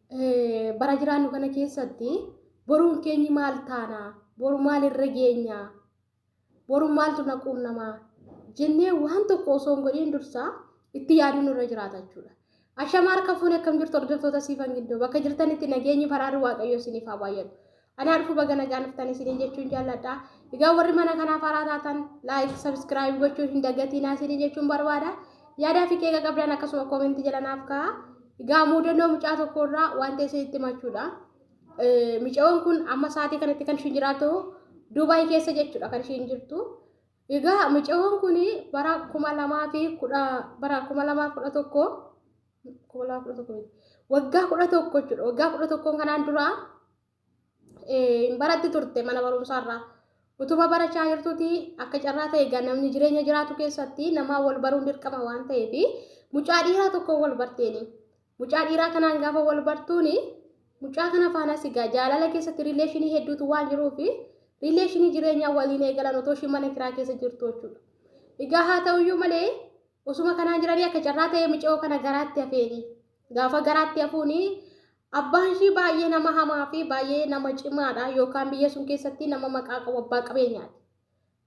Eh, bara jiraannu kana keessatti boruun keenyi maal taana boru maal irra geenya boru maaltu na quunnamaa jennee waan tokko osoo hin godhin dursaa itti yaaduun nurra jiraata jechuudha. Ashama harka fuune akkam jirtu hordoftoota siifan gidduu bakka jirtanitti nageenyi faraarri waaqayyoo isiniif haa baay'atu. Anaa dhufu baga nagaan dhuftan isiniin jechuun jaalladha. Egaa warri mana kanaaf haaraa taatan laayik sabskiraayib gochuun hin dagatinaa isiniin jechuun barbaada. Yaadaa fi qeeqa qabdan akkasuma koomentii jala naaf kaa'a. Egaa muudannoo mucaa tokko irraa wanta isinitti himachuudha. Micaoon kun amma sa'aatii kanatti kan ishiin jiraatu Duubaay keessa jechuudha kan ishiin jirtu. Egaa micaoon kun bara kuma lamaa fi kudha bara kuma lamaa kudha tokko kuma lama kudha tokko miti waggaa kudha tokko jechuudha waggaa kudha tokkoon kanaan duraa hin baratti turte mana barumsaarraa utuma barachaa jirtuti akka carraa ta'e egaa namni jireenya jiraatu keessatti namaa wal baruun dirqama waan ta'eef mucaa dhiiraa tokko wal barteeni mucaa dhiiraa kanaan gaafa wal bartuuni mucaa kana faanas egaa jaalala keessatti riileeshinii hedduutu waan jiruuf riileeshinii jireenyaa waliin eegalan otoo ishii mana kiraa keessa jirtu jechuudha egaa haa ta'uyyuu malee Osuma kanaan jiranii akka carraa ta'ee micoo kana garaatti hafeeni. Gaafa garaatti hafuuni abbaan ishii baay'ee nama hamaa fi baay'ee nama cimaadha yookaan biyya sun keessatti nama maqaa qabu abbaa qabeenyaati.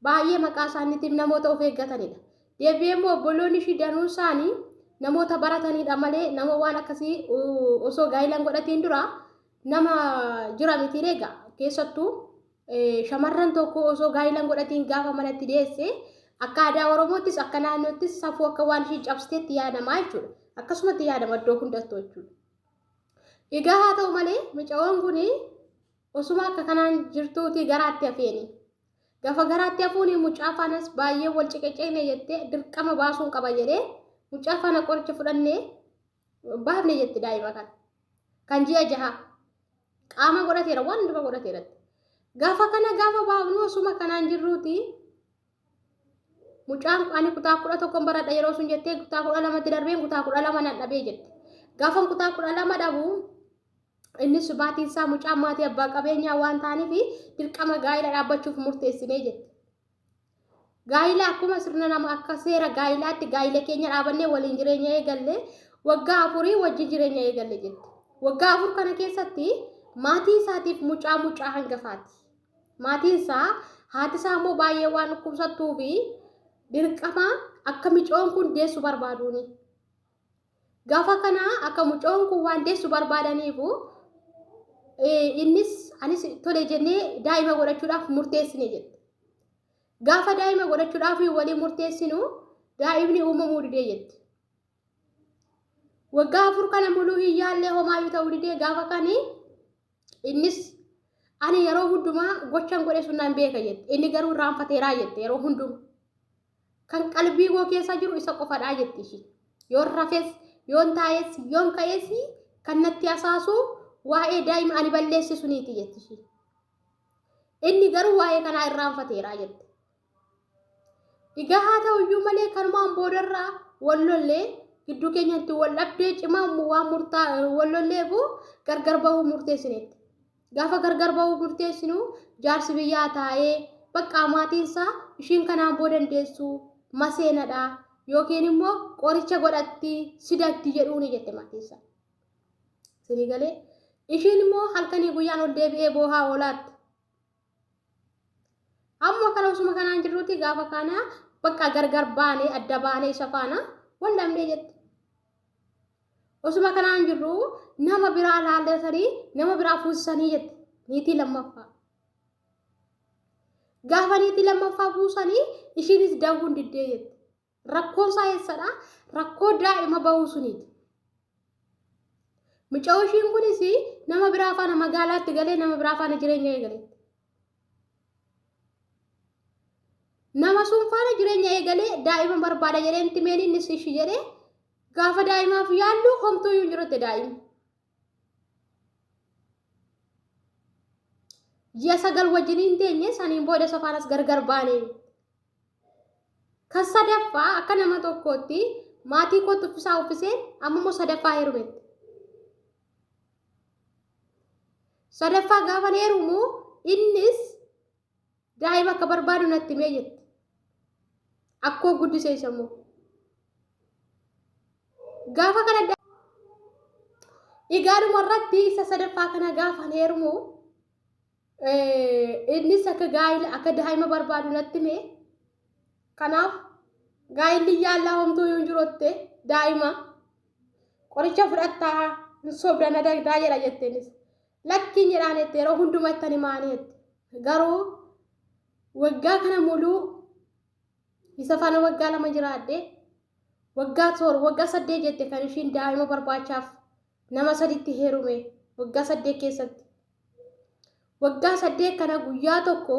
Baay'ee maqaa isaaniitiif namoota of eeggatanidha. Deebi'ee immoo obboloonni ishii danuun isaanii namoota baratanidha malee nama waan akkasii osoo gaa'ila hin godhatiin dura nama jira miti egaa keessattuu Shamarran tokko osoo gaa'ila hin godhatiin gaafa manatti deesse akka aadaa Oromoottis akka naannoottis safuu akka waan ishii cabsiteetti yaadama jechuudha. Akkasumatti yaadama iddoo hundattu jechuudha. Egaa haa ta'u malee mucayoon kun osuma akka kanaan jirtuuti garaatti hafeeni. Gafa garaatti hafuun mucaa faanas baay'ee wal ciqiciqne jettee dirqama baasuun qaba jedhee mucaa faana qoricha fudhannee baafne jetti daa'ima kan kan ji'a jaha qaama godhateera waan hundumaa godhateeratti gaafa kana gaafa baafnu osuma kanaan jirruuti mucaan ani kutaa kudha tokkon baradha yeroo sun jettee kutaa kudha lamatti darbeen kutaa kudha lama nan dhabee jette gaafan kutaa kudha lama dhabu innis baatiin isaa mucaan maatii abbaa qabeenyaa waan ta'aniif dirqama gaa'ela dhaabbachuuf murteessinee jette Gaa'ila akkuma sirna nama akka seera gaa'ilaatti gaa'ila keenya dhaabannee waliin jireenya eegalle waggaa afurii wajji jireenya eegalle jette. Waggaa afur kana keessatti maatii isaatiif mucaa mucaa hangafaati. Maatiin isaa haati isaa immoo baay'ee waan dhukkubsattuu fi dirqama akka micoon kun deessu barbaaduuni. Gafa kana akka mucoon kun waan deessu barbaadaniifu innis anis tole jennee daa'ima godhachuudhaaf murteessine jette. Gaafa daa'ima godhachuudhaaf walii murteessinu daa'imni uumamuu didee jette. Waggaa afur kana muluu hin yaallee homaayyuu ta'uu didee gaafa kani innis ani yeroo hundumaa gochan godhe sun nan beeka jette. Inni garuu irraanfateeraa jette yeroo hundumaa. Kan qalbii koo keessa jiru isa qofadhaa jetti ishii. Yoon rafes, yoon taa'es, yoon ka'es kan natti hasaasu waa'ee daa'ima ani balleesse suniiti jetti ishii. Inni garuu waa'ee kanaa irraanfateera jette. Egaa haa ta'u iyyuu malee kanumaan boodarraa wal lollee gidduu keenyatti wal dhabdee cimaa waan murtaa wal lolleefu gargar bahuu murteessineetti. Gaafa gargar ba'uu murteessinu jaarsi biyyaa taa'ee baqqaa maatiinsaa ishiin kanaan boo dandeessu maseenadha yookiin immoo qoricha godhatti sidatti jedhuuni jette maatiinsaa. Isinii galee ishiin immoo halkanii guyyaan ol deebi'ee boohaa oolaatti. Amma kana osuma kanaan jirruuti gaafa kana bakka gargar baane adda baane isa faana wal dhabnee jette. Osuma kanaan jirru nama biraa laallatanii nama biraa fuusisanii jette niitii lammaffaa. Gaafa niitii lammaffaa buusanii ishiinis daawwuun diddee jette. Rakkoon isaa eessadha? Rakkoo daa'ima bahuu suniiti. Mucaa ishiin kunis nama biraa faana magaalaatti galee nama biraa faana jireenya eegaletti. Nama sun faana jireenya eegalee daa'ima barbaada jedhee itti meen inni sishi jedhee gaafa daa'imaaf yaallu homtuu iyyuu hin jirutti daa'ima. Ji'a sagal wajjin hin teenye saniin booda isa faanas gargar baane. Kan sadaffaa akka nama tokkootti maatii kootti uffisaa uffisee amma immoo sadaffaa heerumetti. Sadaffaa gaafan heerumu innis daa'ima akka barbaadu natti himee jette. Akkoo guddise isa immoo. Gaafa kana dhigaadhuma irratti isa sadaffaa kana gaafan heerumu Innis akka gaa'ila akka daa'ima barbaadu natti hime. Kanaaf gaa'illi yaallaa homtuu yoo hin jirotte daa'ima qoricha fudhattaa hin sobda na dagdaa jedha jette innis. Lakkiin jedhaan jette yeroo hundumaa ittani maanii jette. Garuu waggaa kana muluu isa faana waggaa lama jiraadhe waggaa toor waggaa saddeet jette kan ishiin daa'ima barbaachaaf nama saditti heerume waggaa saddeet keessatti waggaa saddeet kana guyyaa tokko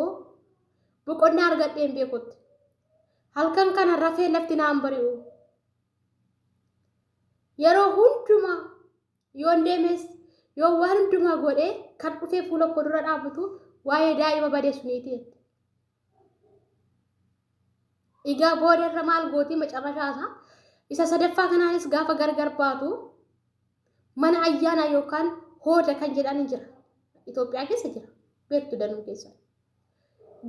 boqonnaa argadheen beekutti halkan kana rafee lafti naan bari'u yeroo hundumaa yoon deemes yoo waan hundumaa godhee kan dhufee fuula koo dura dhaabatu waa'ee daa'ima badee suniiti jette. Egaa booda irra maal gootii macarrashaa isaa isa sadaffaa kanaanis gaafa gargar baatu mana ayyaanaa yookaan hooda kan jedhan jira. Itoophiyaa keessa jira. Beektu danuu keessa.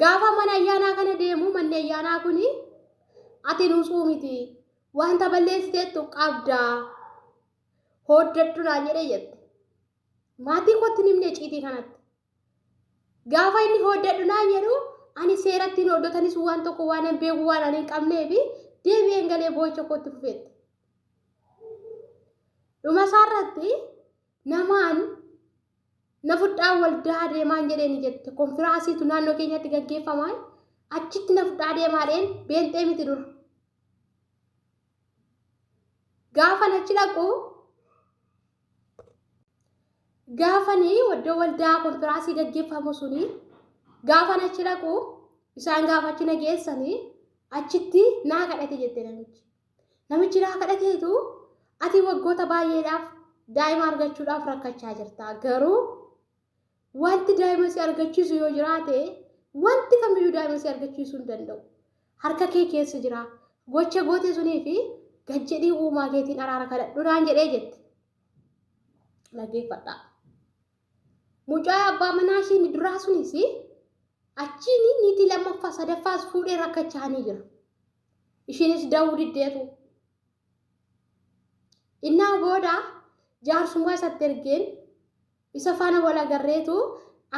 Gaafa mana ayyaanaa kana deemu manni ayyaanaa kun ati nuusuu miti wanta balleessiteettu qabdaa hooddadhu naan jedhee jette. Maatii kootti nimne ciitii kanatti. Gaafa inni hooddadhu naan jedhu ani seeratti hin hooddotanis waan tokko waan hin beeku waan ani hin qabnee fi deebi'een galee boo'icha kootti fufeetti. Dhuma isaarratti namaan na fudhaa waldaa deemaan jedhee ni jette konfiraasiitu naannoo keenyatti gaggeeffamaa achitti na fudhaa deemaadheen beenxee miti dura. gaafan achi dhaqu gaafan iddoo waldaa konfiraasii gaggeeffamu suni gaafan achi dhaqu isaan gaafa achi na geessanii achitti naa kadhate jette namichi. Namichi naa kadhateetu ati waggoota baay'eedhaaf daa'ima argachuudhaaf rakkachaa jirta garuu Wanti daa'ima si argachiisu yoo jiraate wanti kamiyyuu daa'ima si argachiisuu hin danda'u. Harka kee keessa jira. Gocha goote sunii fi gad jedhii uumaa keetiin araara kadhadhu naan jedhee jette. Dhaggeeffadhaa. Mucaa abbaa manaa ishiin duraa sunis achiin niitii lammaffaa sadaffaas fuudhee rakkachaanii jira. Ishiinis da'uu diddeetu. Innaa booda jaarsummaa isatti ergeen Isa faana wal agarreetu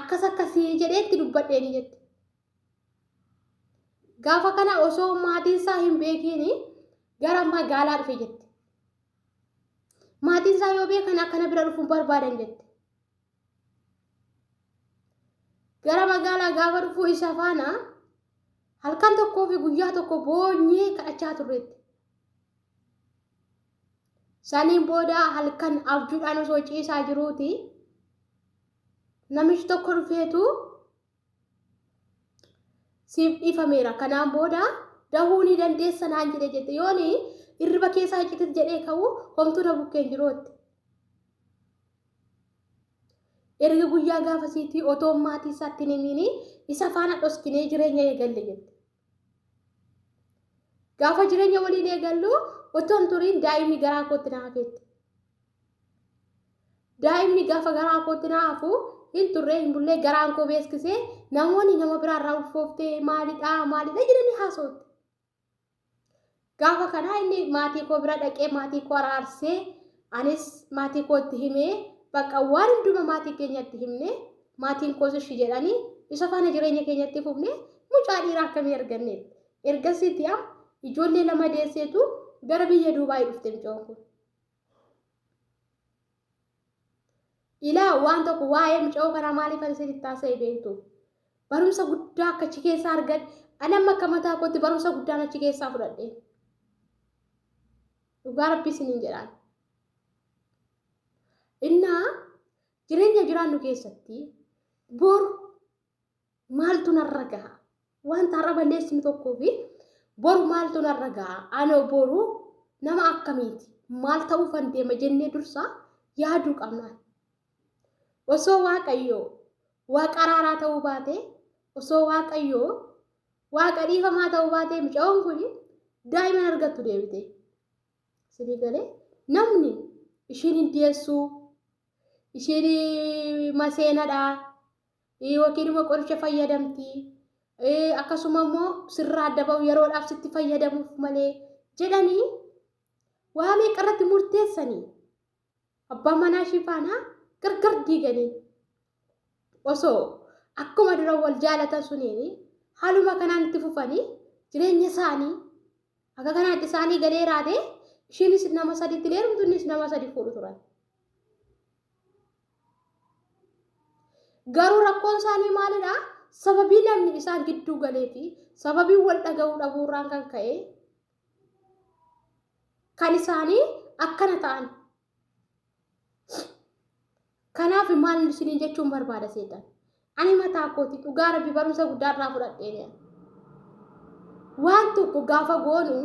akkas akkasii jedhee itti dubbadheeni jette. Gaafa kana osoo maatiin isaa hin beekiin gara magaalaa dhufe jette. Maatiin isaa yoo beekan akkana bira dhufuun barbaadan jette. Gara magaalaa gaafa dhufuu isa faana halkan tokkoo fi guyyaa tokko boonyee kadhachaa turreetti. Saniin booda halkan abjuudhaan osoo ciisaa jiruuti namichi tokko dhufeetu siif dhiifameera kanaan booda dahuu ni dandeessa naan jedhe jette yooni irriba keessaa iccitit jedhee ka'u homtuu na bukkeen jirootti. Erga guyyaa gaafasiitii otoo maatii isaatti hin himiin isa faana dhoskinee jireenya eegalle jette. Gaafa jireenya waliin eegallu otoo hin turiin daa'imni garaa kootti na hafeetti. Daa'imni gaafa garaa kootti na hafu hin turre hin bullee garaan koo beeksisee namoonni nama biraarraa ulfooftee maalidhaa maalidha jedhanii haasa'utti. Gaafa kanaa inni maatii koo bira dhaqee maatii koo araarsee anis maatii koo itti himee bakka waan hunduma maatii keenyatti himne maatiin koos ishi jedhanii isa faana jireenya keenyatti fufne mucaa dhiiraa akkamii arganneef. Ergasiitti am ijoollee lama deesseetu gara biyya Duubaayii dhufte mucoon kun. Ilaa waan tokko waa'ee muca'oo kanaa maaliif ani isinitti haasa'e beektu? Barumsa guddaa akka achi keessaa argadhe, ani amma akka mataa kootti barumsa guddaan achi keessaa fudhadhe. Dhugaa rabbii isiniin jedhaan. Innaa jireenya jiraannu keessatti boru maaltu narra gaha wanta har'a balleessinu tokkoo fi boru maaltu narra gaha anoo boru nama akkamiiti maal ta'uu kan deema jennee dursaa yaaduu qabna osoo waaqayyoo waaqa araaraa ta'uu baatee osoo waaqayyoo waaqa dhiifamaa ta'uu baatee mucaan kun daa'ima hin argattu deebite sinii galee namni ishiin hin deessuu ishiin maseenadhaa yookiin immoo qoricha fayyadamti akkasuma immoo sirraa adda ba'u yeroodhaaf sitti fayyadamuuf malee jedhanii waa meeqa irratti murteessanii abbaa manaa ishii faanaa gargar diiganii osoo akkuma dura wal jaalatan suniin haaluma kanaan itti fufanii jireenya isaanii Akka kanaatti isaanii galee raatee ishiinis nama sadiitti leerumtu innis nama sadi fuudhu turan. Garuu rakkoon isaanii maalidha? Sababii namni isaan gidduu galee fi sababii wal dhaga'uu dhabuurraan kan ka'e kan isaanii akkana ta'an Kanaaf maal isiniin jechuun barbaada seetan. Ani mataa kooti dhugaa rabbi barumsa guddaa irraa fudhadheera. Waan tokko gaafa goonu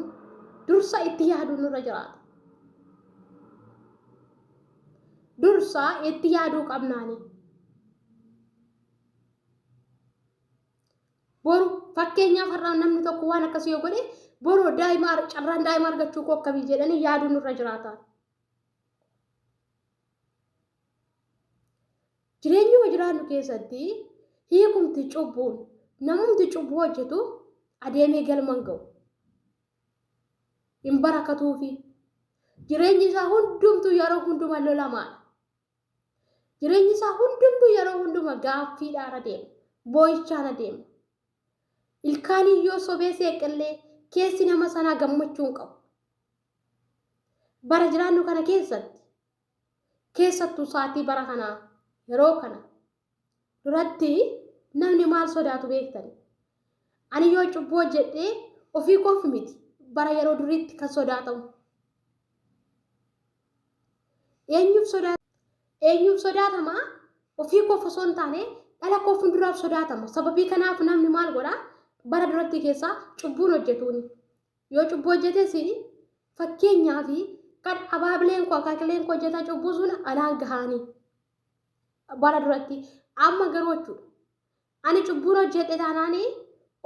dursa itti yaaduu nurra jiraata. Dursa itti yaaduu qabnaani. Boru fakkeenyaaf har'aa namni tokko waan akkasii yoo godhe boru daa'ima carraan daa'ima argachuu koo akkamii jedhanii yaaduun irra jiraata. Jireenyuma jiraannu keessatti hiikumti cubbuun namumti cubbuu hojjetu adeemee galman ga'u. Hin barakatuufi. Jireenyi isaa hundumtuu yeroo hundumaa lolamaadha. Jireenyi isaa hundumtuu yeroo hunduma gaaffiidhaan adeema. Boo'ichaan adeema. Ilkaaniin yoo sobee seeqillee keessi nama sanaa gammachuu hin qabu. Bara jiraannu kana keessatti keessattuu saatii bara kanaa yeroo kana duratti namni maal sodaatu beektan ani yoo cubbuu hojjedhee ofii koof miti bara yeroo duriitti kan sodaatamu eenyuuf sodaata eenyuuf sodaatama ofii koof osoo hin taane dhala koo fuulduraaf sodaatama sababii kanaaf namni maal godha bara duratti keessaa cubbuun hojjetuuni yoo cubbuu hojjetes fakkeenyaa fi kan abaabileen koo akaakileen koo hojjetaa cubbuu sun anaan gahaanii bara duratti amma garuu jechuudha ani cubbuu hojjedhe taanaani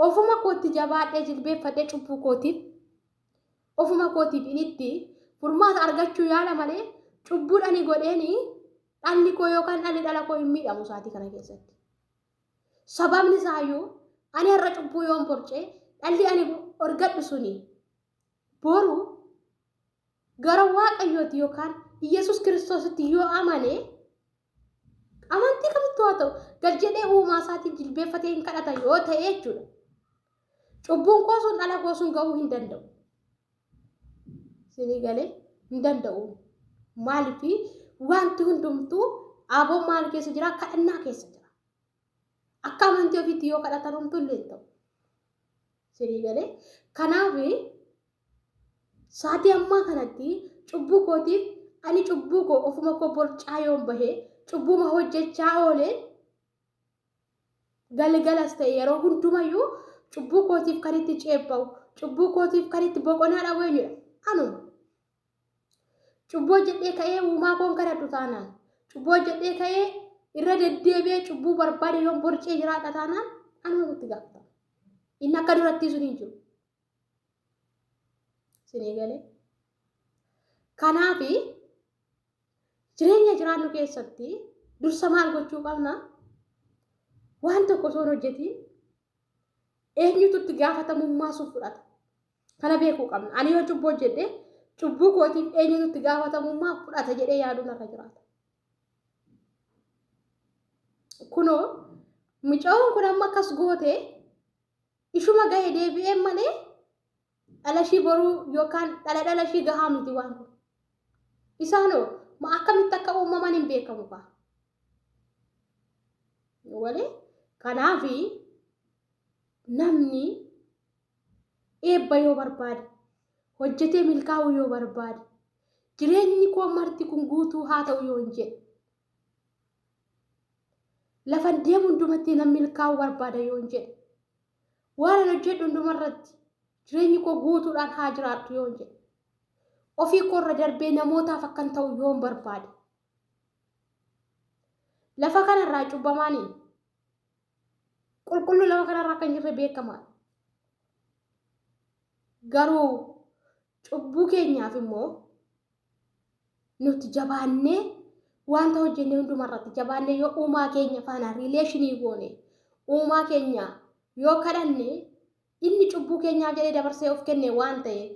ofuma kootti jabaadhee jilbeeffadhee cubbuu kootiif ofuma kootiif initti furmaata argachuu yaala malee cubbuun ani godheeni dhalli koo yookaan dhalli dhala koo hin miidhamu isaatii kana keessatti. Sababni isaayyuu ani har'a cubbuu yoon borcee dhalli ani argadhu suni boru gara waaqayyooti yookaan Iyyasuus kiristoositti yoo amane amantii kamittuu haa ta'u gad jedhee uumaa isaatiin jilbeeffatee hin kadhata yoo ta'e jechuudha. Cubbuun koo sun dhala koo sun ga'uu hin danda'u. Sinii galee hin danda'u. Maaliif wanti hundumtuu aboo maal keessa jira kadhannaa keessa jira. Akka amantii ofiitti yoo kadhatan homtuu illee hin ta'u. Sirii galee. Kanaaf saatii ammaa kanatti cubbuu kootiif ani cubbuu koo ofuma koo borcaa yoon bahee cubbuuma hojjechaa oolee galgalas ta'e yeroo hundumayyuu cubbuu kootiif kan itti ceepha'u cubbuu kootiif kan itti boqonaa dhabu eenyudha? Anuma. Cubbuu hojjedhee ka'ee uumaa koon kadhadhu taanaan. Cubbuu hojjedhee ka'ee irra deddeebi'ee cubbuu barbaade yoon borcee jiraadha taanaan anumatu itti gaafatama. Inni akka durattii sun hin jiru. Sinii galee. Kanaafi jireenya jiraannu keessatti dursa maal gochuu qabna? Waan tokko osoo hin hojjetiin eenyutu itti gaafatamummaa sun fudhata? Kana beekuu qabna. Ani yoo cubbuu hojjedhe cubbuu kootiif eenyutu itti gaafatamummaa fudhata jedhee yaaduu narra jiraata. Kunoo mucaan kun amma akkas goote ishuma gahe deebi'ee malee dhala ishii boruu yookaan dhala dhala ishii gahaa miti waan kun. Isaanoo ma akkamitti akka uumaman hin beekamu kaa. Walee kanaafi namni eebba yoo barbaade hojjetee milkaa'uu yoo barbaade jireenyi koo marti kun guutuu haa ta'u yoo hin jedhe lafan deemu hundumatti nan milkaa'uu barbaada yoo hin jedhe waan an hojjedhu hundumarratti jireenyi koo guutuudhaan haa jiraadhu yoo hin jedhe ofii koorra darbee namootaaf akkan ta'u yoo hin barbaade lafa kanarraa cubbamaanii Qulqulluu lafa kanarra akka hin jirre beekamaa. Garuu cubbuu keenyaaf immoo nuti jabaannee wanta hojjenne hundumarratti jabaannee yoo uumaa keenya faana riileeshinii goone uumaa keenya yoo kadhanne inni cubbuu keenyaaf jedhee dabarsee of kenne waan ta'eef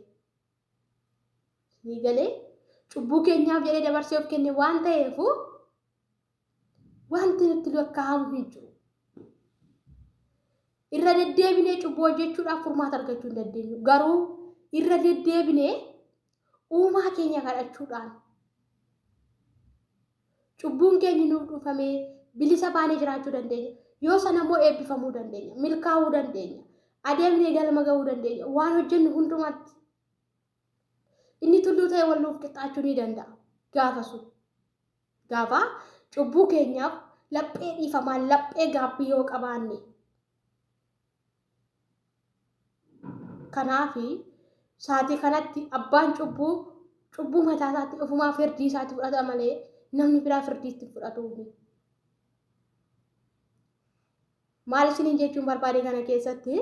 ni galee cubbuu keenyaaf jedhee dabarsee of kenne waan ta'eef Wanti nutti lakkaa'amu hin jiru. Irra deddeebinee cubbuu hojjechuudhaaf furmaata argachuu hin dandeenyu. Garuu irra deddeebinee uumaa keenya kadhachuudhaan cubbuun keenya nuuf dhufamee bilisa baanee jiraachuu dandeenya. Yoo sana immoo eebbifamuu dandeenya, milkaa'uu dandeenya, adeemnee galma ga'uu dandeenya. Waan hojjennu hundumaatti Inni tulluu ta'e wal nuuf qixxaachuu ni danda'a. Gaafa sun. Gaafa cubbuu keenyaaf laphee dhiifamaa laphee gaabbii yoo qabaanne. Kanaaf saatii kanatti abbaan cubbuu cubbuu mataa isaatti ofumaa firdii isaatti fudhata malee namni biraa firdii itti fudhatu. Maal isiniin jechuun barbaade kana keessatti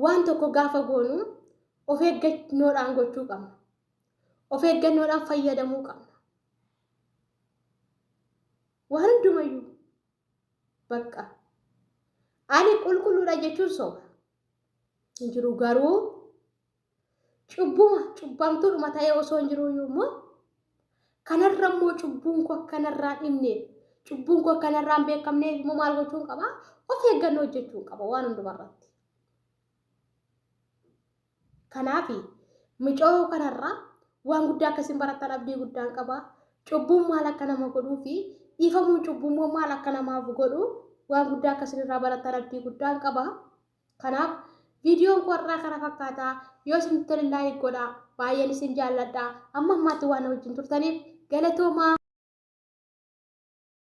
waan tokko gaafa goonu of eeggannoodhaan gochuu qabna. Of eeggannoodhaan fayyadamuu qabna. Waan hundumayyuu bakka ani qulqulluudha jechuun soba hin jiru garuu Cubbuma cubbamtuudhuma ta'ee osoo hin jiruu iyyuu immoo kanarra immoo cubbuun koo akkanarraa dhibneef cubbuun koo akkanarraa hin beekamneef immoo maal gochuun qaba? Of eeggannoo hojjechuun qaba waan hundumarratti. Kanaaf micoo kanarraa waan guddaa akkasiin barattan abdii guddaan qaba. Cubbuun maal akka nama godhuu fi dhiifamuun cubbuu immoo maal akka namaaf godhu waan guddaa akkasiin irraa barattan abdii guddaan qaba. Kanaaf viidiyoon koo har'aa kana fakkaata. Yoo isin tole laayik godhaa. Baay'een isin jaalladha. Amma ammaatti waan wajjin turtaniif galatoomaa.